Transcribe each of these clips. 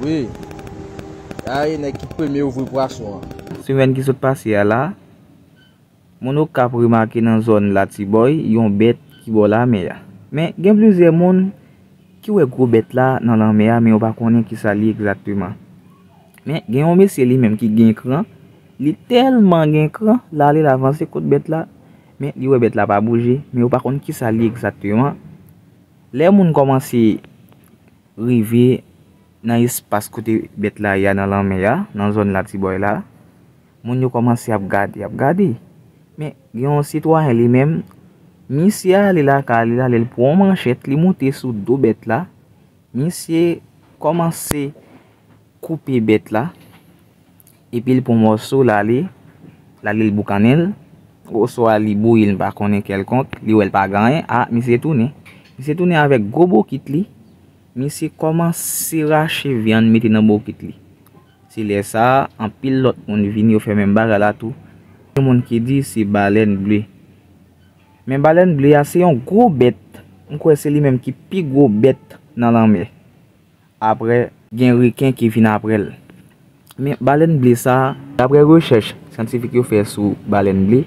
Wi. Sa e nèg ki premye ouvri pwason an. Semèn ki sot pase a la, moun Okap remake nan zòn Latibòy yon bèt ki bò lamè a. Men, gen plizyè moun ki wè gwo bèt la nan lanmè a men yo pa konnen ki sa li egzakteman. Men, gen yon mesye li menm ki gen kran, li tèlman gen kran, l ale l avanse kot bèt la, men li wè bèt la pa bouje, men yo pa konn ki sa li egzakteman. Lè moun kòmanse. Rive nan espas kote bèt la ye a nan lanmè a, nan zòn Latibòy la, moun yo kòmanse ap gade, ap gade. Men, gen yon sitwayen li menm, misye ale lakay li la, lè l pran yon manchèt, li moute sou do bèt la, misye kòmanse. koupe bèt la epi l pran mòso l ale l ale l boukannen l oswa li bouyi l m pa konnen kèlkonk li wè l pa gen anyen a misye tounen misye tounen avèk gwo bokit li misye kòmanse rache vyann mete nan bokit li se lè sa anpil lòt moun vini yo fè menm bagay la tou gen moun ki di se balèn ble men balèn ble a se yon gwo bèt m kwè se li menm ki pi gwo bèt nan lanmè Aprè, gen reken ki vin aprè l. Men, balèn ble sa a. Daprè rechèch syantifik yo fè sou balèn ble,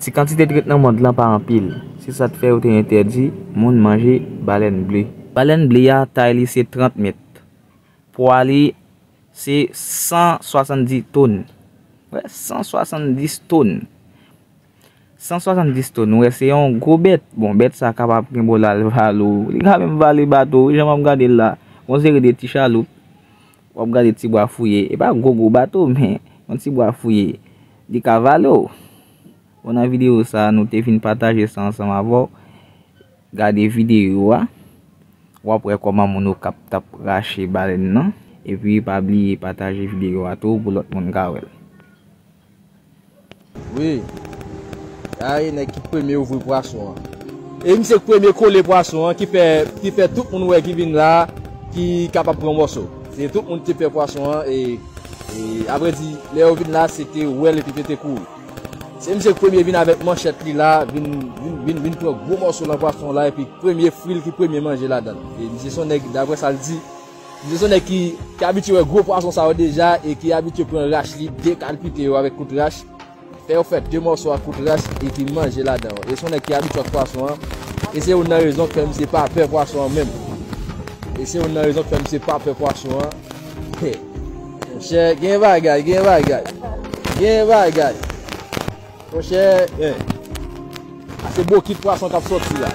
ti kantite trèt nan mond lan pa anpil. Se sa k fè yo te entèdi moun manje balèn ble. Balèn ble a, tay li se 30 mèt. Pwa li se 170 ton. Wè, 170 ton! 170 tòn ou wè se yon gwo bèt. Bon bèt sa kapab gen bo lal valo. Li ka menm vale bato wi jan map gade l la. Yon seri de ti chaloup. Wap gade ti bwa fouye. E pa gwo gwo bato men yon ti bwa fouye. Li ka vale w. Bon nan videyo sa nou te vin pataje sa ansanm avè w. Gade videyo a. Wap wè kòman moun o kap tap rache balèn nan. E pi pa bliye pataje videyo a tou pou lòt moun ka wè l. Wi. Gade nèg ki premye ouvri pwason an. E misye k premye kole pwason an ki fè ki fè tout moun wè ki vin la ki kapab pran mòso. Se tout moun ki te pè pwason an e a vrè di lè yo vin la se te wè l epi te te kouri. Se misye k premye vin avèk manchèt li la vin vin vin pran gwo mòso nan pwason la epi premye fri l ki premye manje ladan l. E misye s on nèg daprè sa l di. Misye son nèg ki abitye wè gwo pwason sa yo deja e ki abitye pran rach li, dekalpite yo avèk kout rach, fè yo fè de mòso ak kout rach epi manje ladan yo. E son nèg ki abitye ak pwason an e se youn nan rezon k fè misye pa pè pwason an menm. E se youn nan rezon k fè misye pa pè pwason an. He! Monchè, gen bagay, gen bagay. Gen bagay. Monchè, he! A se bokit pwason k ap sòti la.